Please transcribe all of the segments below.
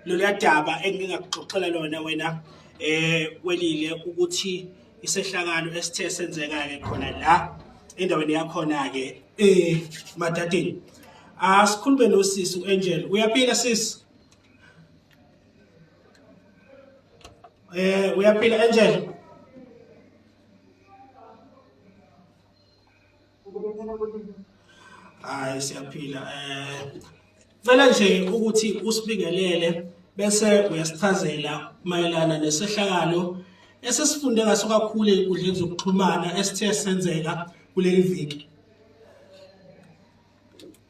loluya daba engingakuxoxela lona wena eh welile ukuthi isehlakalo esithe senzeka-ke khona la endaweni yakhona-ke eh madadini asikhulume nosisi u-angel uyaphila sisi eh uyaphila angel Hayi siyaphila eh cela nje ukuthi usibingelele bese uyasichazela mayelana nesehlakalo esesifunde ngaso kakhulu ezinkundleni zokuxhumana esithe senzeka kuleli viki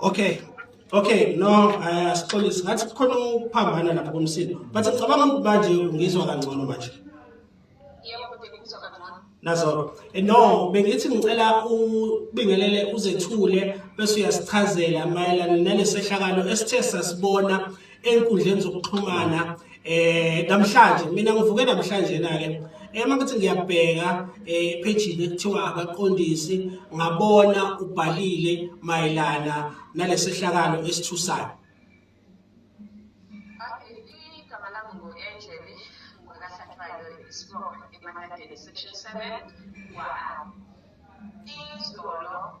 okay okay no eh, asixolisi ngathi kukhona ukuphambana lapha komsindo but ngicabanga ukuthi manje ngizwa kangcono manje nazo eh, no bengithi ngicela ubingelele uzethule bese uyasichazela mayelana nalesehlakalo esithe sasibona enkundleni zokuxhumana eh namhlanje mina ngivuke namhlanje na ke ema kuthi ngiyabheka eh page kuthiwa abaqondisi ngabona ubhalile mayelana nalesehlakalo esithusayo Section 7 kwa izolo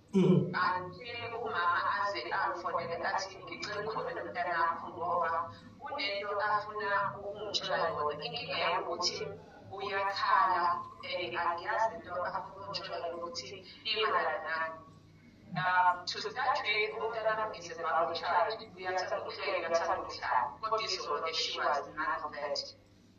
kanti umama aze angifonele athi ngicela ukhulume nomntanakho ngoba kunento afuna ukungitshela yona inkinga yami ukuthi uyakhala and angiyazi into afuna ukungitshela yona ukuthi imayelana nani um to start with umntanami is a bubble child uyathanda ukuhleka uyathanda ukuhlala kodwa izolo she was none of that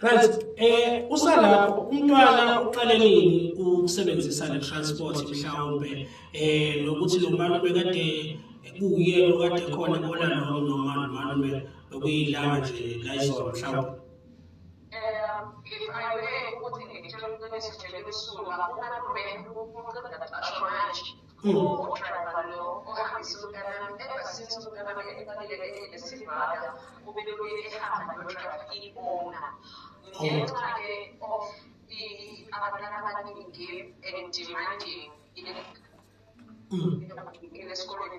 Right eh usalapho umntwana uqale nini ukusebenzisa le transport mhlawumbe eh nokuthi lo mntwana bekade kuwuyena okade khona kona noma noma noma bekuyilanga nje la izolo mhlawumbe udriver lo ohambisa umntanami ebhasini umntanami ebaluleke enesivaka ubeluye ehamba nodriver ibona ngenxa-ke of abantwana abaningi and demanding in esikolweni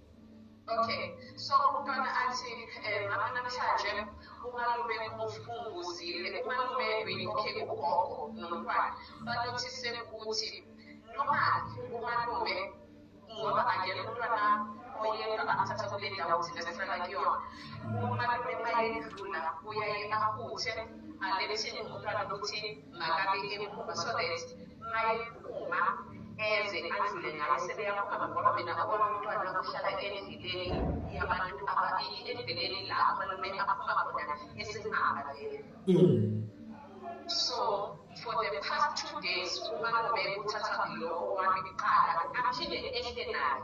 Okay, so umntwana athi eh, mama namhlanje umalume unguzile umalume okay ugogo nomntwana banothise ukuthi noma umalume ngoba angena umntwana oyedwa athatha kule ndawo thina sihlala kuyona umalume mayedlula uyaye ahuthe alethini umntwana ukuthi makabe emuva so that mayephuma eze adlule ngayo sebeyaphuma ngoba mina obona umntwana ohlala endleleni yabantu ababili endleleni la umalume aphuma khona esingaba leyo mm. so for the past two days umalume uthatha lo wami kuqala aphinde ehle naye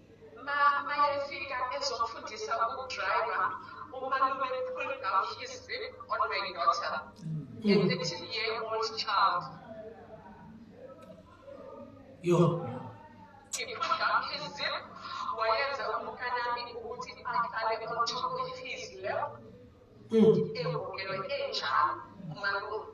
ma mayefika ezofundisa ukudriva umalume pull down his zip on my daughter a 13 year old child yo he pulled down his zip wayenza umkanami ukuthi ahlale on top of his lap emukelwe enjalo umalume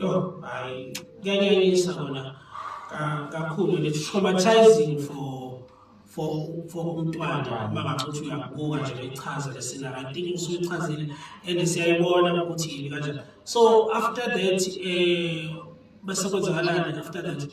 Yo, hayi kuyanyanyisa kona kakhulu and it's traumatizing for for for umntwana uma ngabe uthi uyakubuka nje bechaza le scenario i think usuyichazile and siyayibona ukuthi yini kanjani so after that eh bese kwenzakalani after that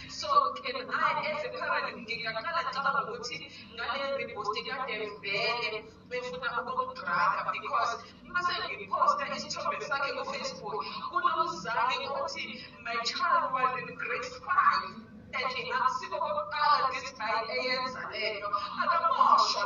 so ke naye eze phakathi ngingaqala ngicabanga ukuthi ngale repost kade vele befuna ukudraga because mase ngiphosta isithombe sakhe kufacebook kunomzali othi my child was in grade five and akusiko kokuqala this guy eyenza lento akamoshwa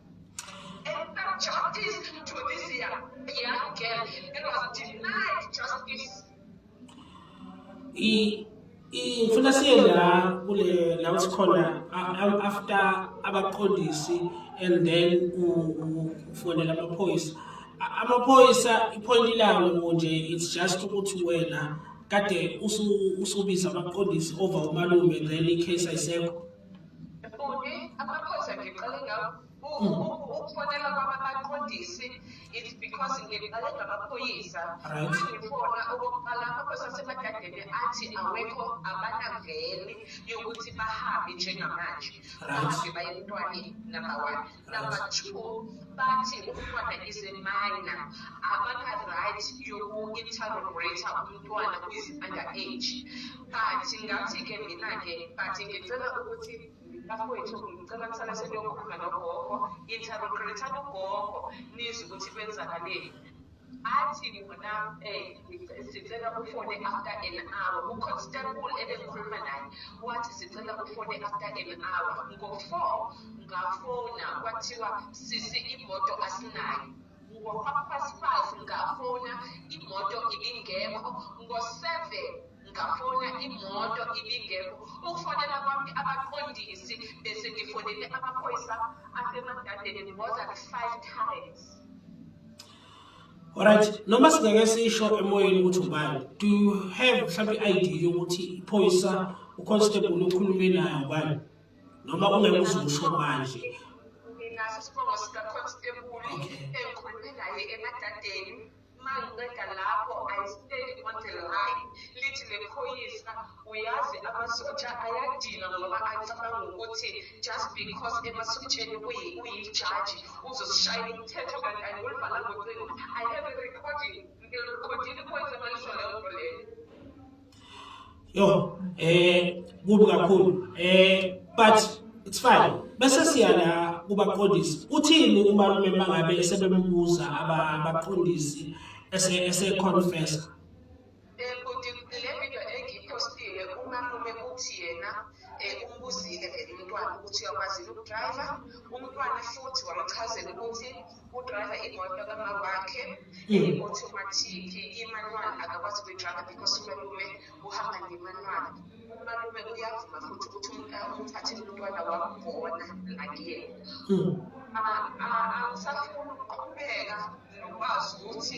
ngifuna siye la kule la sikhona after abaqondisi and then ufonela amaphoyisa amaphoyisa iphoyinti lawo nje it's just ukuthi wena kade usubiza abaqondisi over umalume then i-case ayisekho Bhuti, amaphoyisa ngiqale ngawo ukufonela kwabaqondisi it because ngiqale ngamaphoyisa uma ngifona okokuqala amaphoyisa asemadadeni athi awekho abanaveli yokuthi bahambe njengamanje bahambe baye emntwaneni number one Number two, bathi umntwana is a minor, abana-right yoku-interrogator umntwana who is under age. But ngathi-ke mina-ke, but ngicela ukuthi bafowethu ngicela kusala seniyokhuluma nogogo, interrogator ugogo, nizwe ukuthi kwenzakaleni. athi wena um sicela ufone after an hour uconstable ebengikhuluma naye wathi sicela ufone after an hour ngo-four ngafona kwathiwa sisi imoto asinayo ngo-half past five ngafona imoto ibingekho ngo-seven ngafona imoto ibingekho ukufonela kwami abaqondisi bese ngifonele amaphoyisa asemadadeni more than five times Alright, noma singeke sisho emoyeni ukuthi ubani. Do you have mhlawumbe i-idea yokuthi iphoyisa uconstable okhulume nayo ubani? Noma ungeke uzusho manje. Nginaso isibongo sikaconstable engikhulume naye emadadeni. mangiqeda lapho ayisibeki imoto layi lithi lephoyisa uyazi amasotsha ayadinwa ngoba acabanga ukuthi just because emasotsheni uyijaji uzosishayela umthetho kanti angolibhala ngocingo i have a recording ngirekodile iphoyisa malisho leyo nto leyo yo eh kubi kakhulu eh but it's fine bese siya la kubaqondisi uthini umalume mangabe esebembuza abaqondisi ese ese confess ukuthi uyakwazini ukudriver umntwana futhi wamchazela ukuthi udrayiva imoto kamawakhe i-automatic imanual akakwazi ukuyidrayiva because umalume uhamba ngemanual umalume uyavuma futhi ukuthi umthathe umntwana wamubona nakuyena angisafuni ukuqhubeka nokwazi ukuthi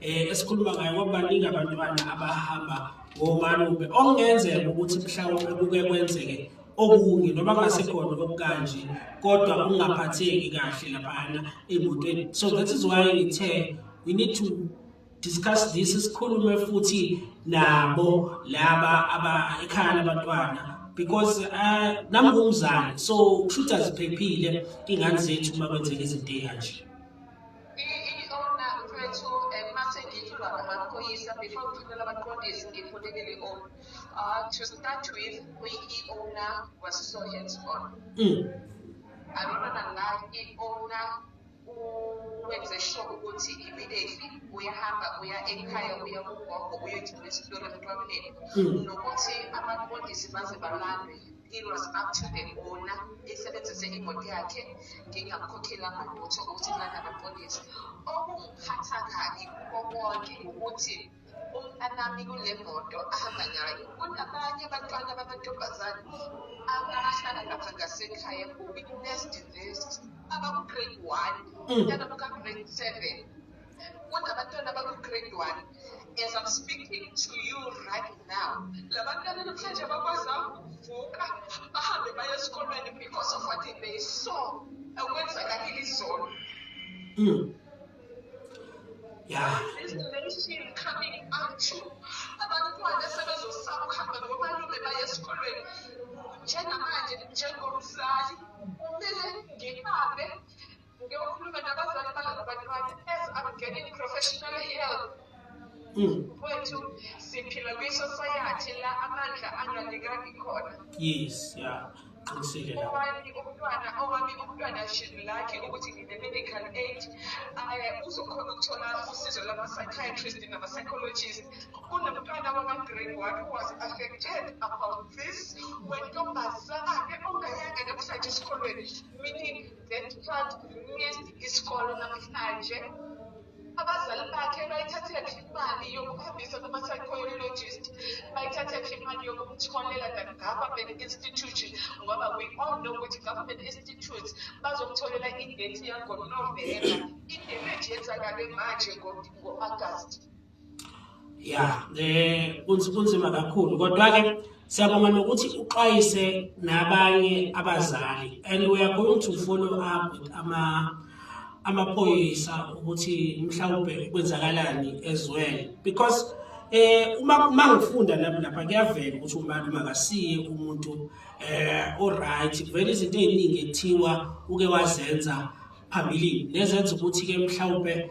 eh esikhuluma ngayo ngoba baningi abantwana abahamba ngomalume okungenzeka ukuthi mhlawumbe kuke kwenzeke okunye noma kungasekhona okukanje kodwa ungaphatheki kahle laphana emotweni so that is why ngithe we need to discuss this sikhulume futhi nabo laba aba ekhaya labantwana because uh, nami ngumzali so kushuthi aziphephile ingane zethu uma kwenzeka izinto eyanje Iona mfethu um mase ngithi ubaba amaphoyisa before ngithulela abaqondisi ngifunekele i-on uh, ah, to start with uyi-iona was so hands on mm. i don't wanna lie i-ona wenze sure ukuthi immediately uyahamba uya ekhaya uya kugogo uyogcina isitori emntwaneni mm. nokuthi abaqondisi baze balandwe It was up to the owner esebenzise imoto yakhe ngingamkhokhela ngalutho ukuthi lana bapolice okungiphatha kabi kuko konke ukuthi umntanami kule moto ahamba nayo kunabanye abantwana bamantombazane abahlala lapha ngasekhaya kubi nest invest abaku-grade one mm. nalabo ka-grade seven kodwa abantwana bakwi-grade one as i'm speaking to you right now la bantwana namhlanje bakwazanga ukuvuka bahambe baye esikolweni because of what they saw okwenzakalile izolo mm. yeah. coming out to abantwana sebezosaba ukuhamba nomalume baye esikolweni njengamanje njengomzali kumele ngibambe Ngiyokhuluma nabazali balaba bantwana as I'm getting professional help. Mm. Mfowethu siphila kwi-society la amandla angalikaki khona. Yes, yeah. Qinisile la. Owami umntwana, owami umntwana shini lakhe ukuthi ngine-medical aid um uzokhona ukuthola usizo lama-psychiatrist nama-psychologist. Kunomntwana wama-grade one who was affected about this wentombazane ongayanga namhlanje esikolweni meaning then uthwala isikolo namhlanje abazali bakhe bayithathela phi imali yokuhambisa kuma-psychologist bayithathe phi imali yokumtholela the government institution ngoba we all know ukuthi government institutes bazomtholela idate yangonovemba idemage yenzakale manje ngo-agasti ya eh kunzima kakhulu kodwa ke siyabonga nokuthi uxwayise nabanye abazali and we are going to follow up with ama amaphoyisa ukuthi mhlawumbe kwenzakalani as well because eh uma uma ngifunda lapha lapha kuyavela ukuthi umbani makasiye umuntu eh oright vele izinto eziningi ethiwa uke wazenza phambilini nezenza ukuthi ke mhlawumbe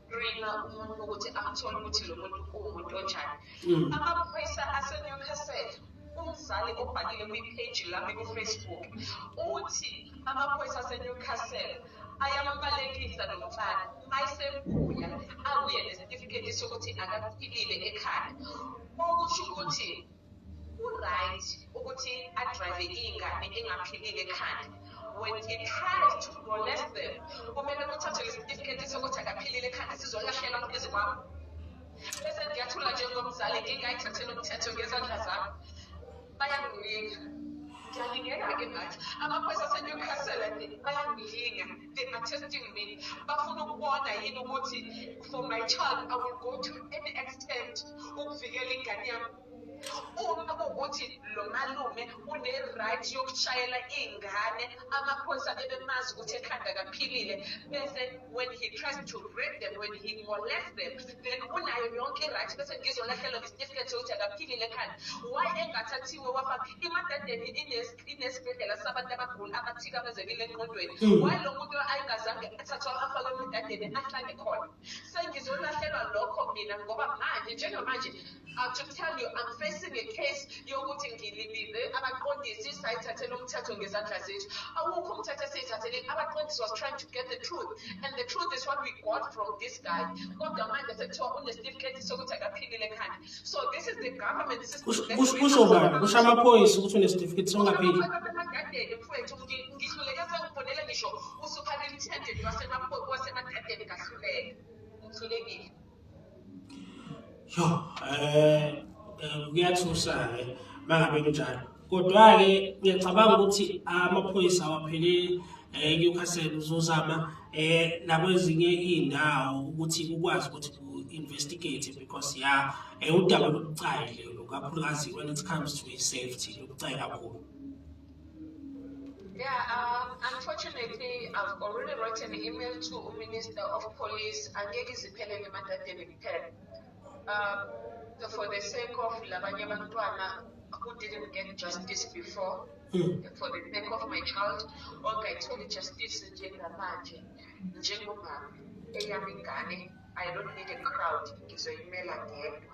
screena umuntu ukuthi athole ukuthi lo muntu uwumuntu onjani mm. amaphoyisa asenewcastle umzali obhalile kwipheji lami kufacebook uthi amaphoyisa asenewcastle ayambalekisa lo mfana ayisebuya abuye nesitifiketi sokuthi akaphilile ekhaya okusho ukuthi Uright ukuthi adrive ingane ingaphilile ekhanda when he tries to molest them kumele kuthathwe lesitifiketi sokuthi akaphilile ekhanda sizolahlelwa phezu kwami bese ngiyathula njengomzali ngingayithathela umthetho ngezandla zami bayangilinga ngiyalingenake ngathi amaphoyisa asenewcastle bayangilinga they are testing me bafuna ukubona yini ukuthi for my child i will go to any extent ukuvikela ingane yami uma kuwukuthi lo malume une-right yokushayela iy'ngane amaphoyisa ebemazi ukuthi ekhanda kaphilile bese when he tries to rape them when he molest them then unayo yonke i-right bese ngizolahlelwa ngesitifiketi sokuthi akaphilile ekhanda why engathathiwe wafaka imadadeni inesibhedlela sabantu abagula abathikamezekile enqondweni mm. walo muntu ayingazange athathwa afakwe emdadeni ahlale khona sengizolahlelwa lokho mina ngoba manje njengamanje uh, to tell you i'm facing a case yokuthi ngilibize abaqondisi sayithathela umthetho ngezandla zethu awukho umthetho esiyithathele abaqondisi was trying to get the truth and the truth is what we got from this guy kodwa manje sekuthiwa unesitifiketi sokuthi akaphilile khanda kusho ubani kusho amaphoyisa ukuthi unesitifiketi songapheli yo um kuyathusa-ke uma ngabe kunjalo kodwa-ke ngiyacabanga ukuthi amaphoyisa awapheleli um eh, newcastle uzozama um nakwezinye iy'ndawo ukuthi kukwazi ukuthi ku-investigate because ya um udaba lobucayi lelo kakhulukazi when it comes to i-safety lobucayi kakhulu Yeah, um, unfortunately, I've already written an email to Minister of Police, Angegi Zipelele Mandadele Pele. Um, so for the sake of labanye abantwana who didn't get justice before mm. for the sake of my child ongayitholi justice njengamanje njengomama eyami ingane i don't need a crowd ngizoyimela ngedwa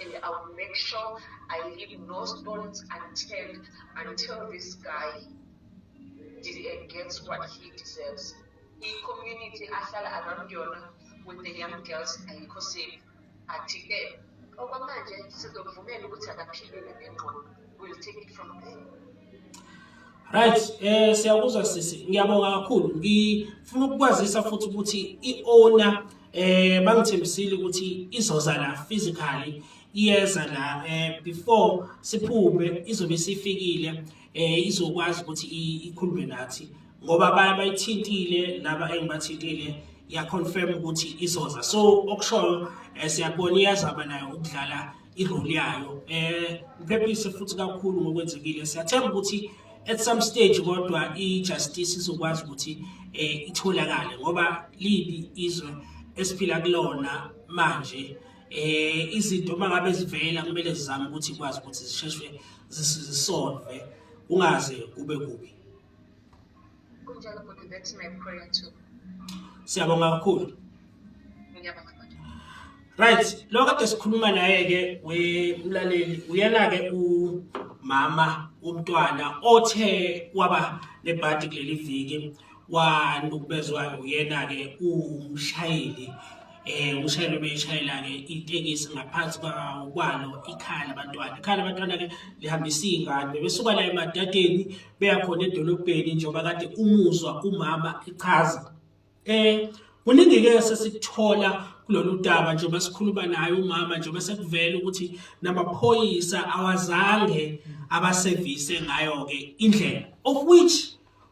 and i will make sure i leave no stones unturned until this guy gets what he deserves i-community ahlala around yona with the young girls ayikho safe athi-ke okwamanje sizomvumela ukuthi akaphilele ngengqondo will take it from there Right, eh siyakuzwa sisi. Ngiyabonga kakhulu. Ngifuna ukukwazisa futhi ukuthi iowner eh bangithembisile ukuthi izoza la physically iyeza la eh before siphume izobe sifikile eh izokwazi ukuthi ikhulume nathi. ngoba baye bayithintile laba engibathintile yaconfirm ukuthi izoza so okushoyo eh, siyabona iyazaba nayo ukudlala irole yayo um eh, iphephise futhi kakhulu ngokwenzekile siyathemba ukuthi at some stage kodwa i-justice izokwazi ukuthi um itholakale ngoba libi izwe esiphila kulona manje eh izinto mangabe zivela kumele sizame ukuthi ikwazi ukuthi zisheshwe zisolve ungaze kube kubi Kunjalo bhuti that's my prayer too. Siyabonga kakhulu. Ngiyabonga. Right, lo kade sikhuluma naye ke wemlaleli uyena ke umama umntwana othe waba nebhadi kuleli viki wanukubezwa uyena ke umshayeli eh umshayeli obeyishayela ke itekisi ngaphansi kwalo ikhala abantwana ikhala abantwana ke lihambisa ingane besuka la emadadeni beya khona edolobheni njengoba kade umuzwa umama echaza eh kuningi ke sesikuthola kulolu daba njengoba sikhuluma naye umama njengoba sekuvela ukuthi namaphoyisa awazange abasevise ngayo ke indlela of which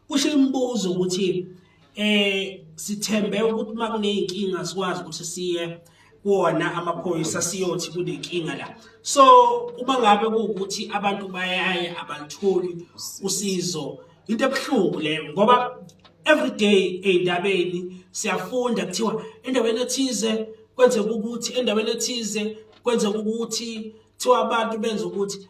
kusho imibuzo ukuthi eh sithembe ukuthi uma kuneyinkinga sikwazi ukuthi siye kuwona amaphoyisa siyothi kunenkinga la so uma ngabe kuwukuthi abantu bayaye abalitholi usizo into ebuhlungu leyo ngoba every day ey'ndabeni siyafunda kuthiwa endaweni ethize kwenzeka ukuthi endaweni ethize kwenzeka ukuthi kuthiwa abantu benza ukuthi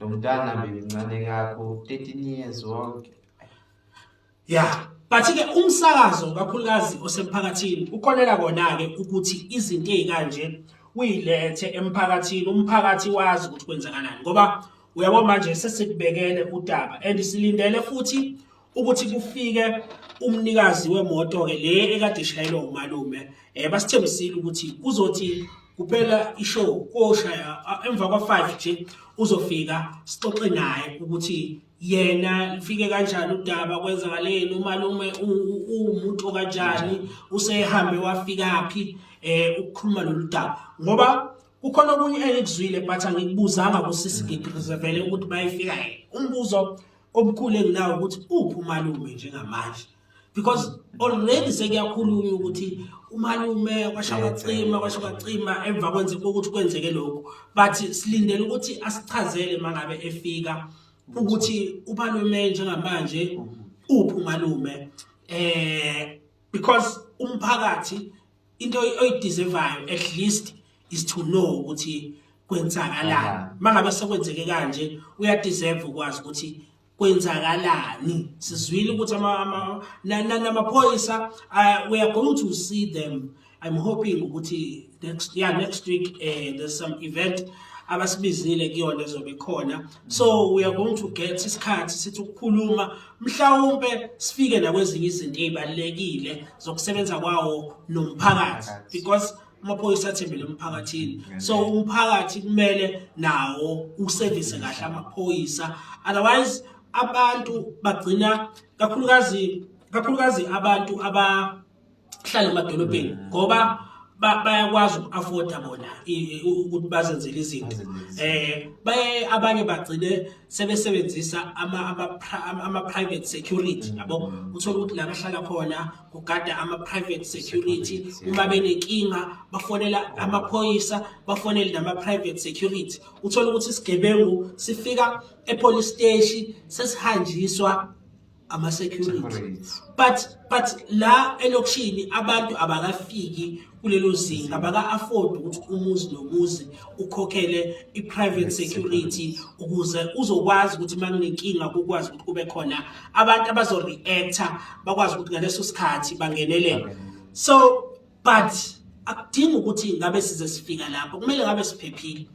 Lo mntana bemncane kakho 13 years wonke. Yeah. But ke umsakazo kakhulukazi osemphakathini ukholela kona ke ukuthi izinto ezikanje uyilethe emphakathini umphakathi wazi ukuthi kwenzakalani ngoba uyabo manje sesibhekele udaba and silindele futhi ukuthi kufike umnikazi wemoto ke le ekade ishayelwa umalume eh basithembisile ukuthi kuzothi kuphela ishow koshaya emva kwa5 nje uzofika sixoxe naye ukuthi yena lifike kanjani udaba kwenzakaleni umalume umuntu okanjani usehambe wafika phi eh ukukhuluma lolu daba ngoba kukhona okunye engikuzwile but angikubuzanga kusisi ngigrizevele ukuthi bayifika yena umbuzo Omkhulu enginawo ukuthi uphi umalume njengamanje because already sekuyakhulunywa ukuthi umalume kwasha kwacima kwasha kwacima emva kwenzeka ukuthi kwenzeke lokho but silindele ukuthi asichazele mangabe efika ukuthi umalume njengamanje uphi umalume eh because umphakathi into oyideservayo at least is to know ukuthi kwenzakalani mangabe sekwenzeke kanje uyadeserve ukwazi ukuthi kwenzakalani sizwile ukuthi namaphoyisa uh, we are going to see them i'm hoping ukuthi next yeah next week uh, there's some event abasibizile kuyona ezobe khona so we are going to get isikhathi sithi ukukhuluma mhlawumpe sifike nakwezinye izinto ezibalekile zokusebenza kwawo nomphakathi because amaphoyisa athembele emphakathini so umphakathi kumele nawo uservice kahle amaphoyisa otherwise abantu bagcina kakhulukazi kakhulukazi abantu aba hlale emadolobheni mm. ngoba bayakwazi uku-afforda bona ukuthi bazenzele izinto eh baye abanye bagcine sebesebenzisa ama-private security mm. yabo uthole ukuthi la bahlala khona kugada ama-private security uma benenkinga bafonela amaphoyisa bafonele nama-private security uthole ukuthi isigebengu sifika epolice steshi sesihanjiswa ama security but but la elokishini abantu abakafiki kulelo zinga baka afford ukuthi umuzi nomuzi ukhokhele i private security ukuze uzokwazi ukuthi makunenkinga ukwazi ukuthi kube khona abantu abazo reactor bakwazi ukuthi ngaleso sikhathi bangenelele so but akudingi ukuthi ngabe size sifika lapho kumele ngabe siphephile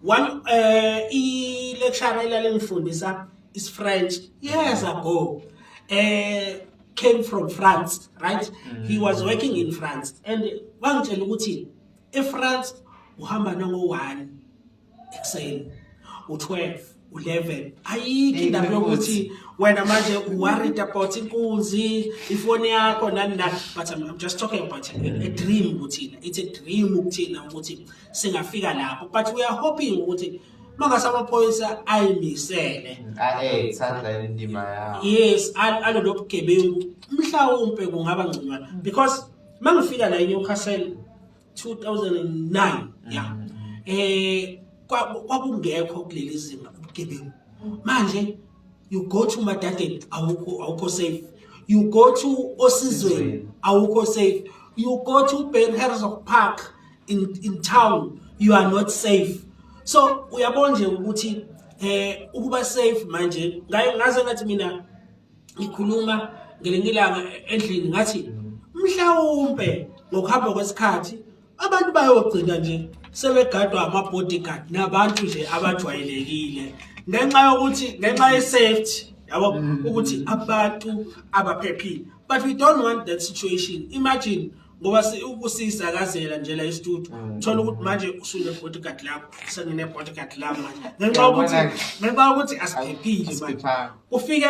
one eh i lecture elalengifundisa is French years ago eh came from France right mm. he was working in France and wangitshela ukuthi eFrance uhamba nongo one ekuseni u-12 u-11 ayikho indaba yokuthi wena manje worried about inkunzi ifoni yakho nani nani but I'm, I'm just talking about a, a dream kuthina it's a dream ukuthina ukuthi singafika lapho but we are hoping ukuthi mangase amaphoyisa ayimisele ae sandla indima yawo yes al- alolo bugebengu mhlawumpe kungaba ngconywana because mangifika la eNewcastle 2009 yeah mm. eh kwakungekho kuleli zinga ubugebengu manje you go to madadeni awukho awukho safe you go to osizweni awukho safe you go to Ben Herzog Park in in town you are not safe so uyabona nje ukuthi eh ukuba safe manje ngaye ngaze ngathi mina ngikhuluma ngelinye ilanga endlini ngathi mhlawumbe ngokuhamba kwesikhathi abantu bayogcina nje sebegadwa ama-bodyguard nabantu nje abajwayelekile ngenxa yokuthi ngenxa ye-safety yabo mm. ukuthi abantu abaphephile but we don't want that situation imagine ngoba ukusisakazela nje la istudio mm. uthola ukuthi manje usune bodyguard lakho sengine bodyguard lami manje ngenxa ukuthi ngenxa ukuthi asiphephile manje ufike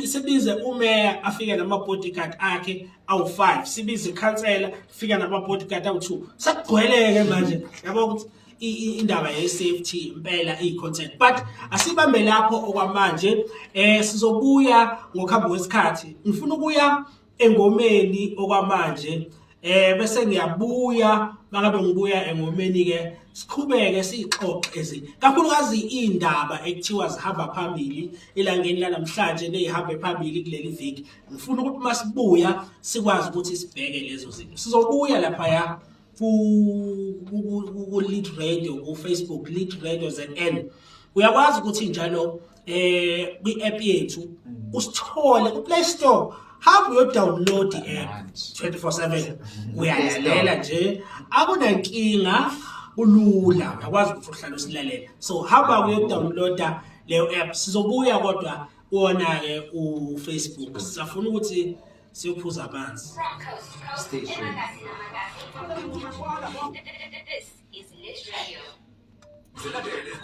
sibize umeya afike nama bodyguard akhe awu5 sibize ikhansela fika nama bodyguard awu2 sakugcweleke manje yabo ukuthi indaba ye-safety impela iyi-content but asibambe lapho okwamanje um sizobuya ngokuhamba kwesikhathi ngifuna ukuya engomeni okwamanje eh bese ngiyabuya mangabe ngibuya engomeni ke siqhubeke sixoxe kakhulukazi indaba ekuthiwa zihamba phambili elangeni lanamhlanje nezihambe phambili kuleli viki ngifuna ukuthi masibuya sikwazi ukuthi sibheke lezo zinto sizobuya lapha ya ku ku lead radio ku Facebook lead radio ZN uyakwazi ukuthi njalo eh kwi app yethu mm. usithole ku Play Store hamba uyodownload i-app 24/7 uyalalela nje akunankinga kulula uyakwazi ukuthi uhlale usilalela so hamba uyodownloada leyo app sizobuya kodwa kuwona ke uFacebook sisafuna ukuthi siyophuza amanzi station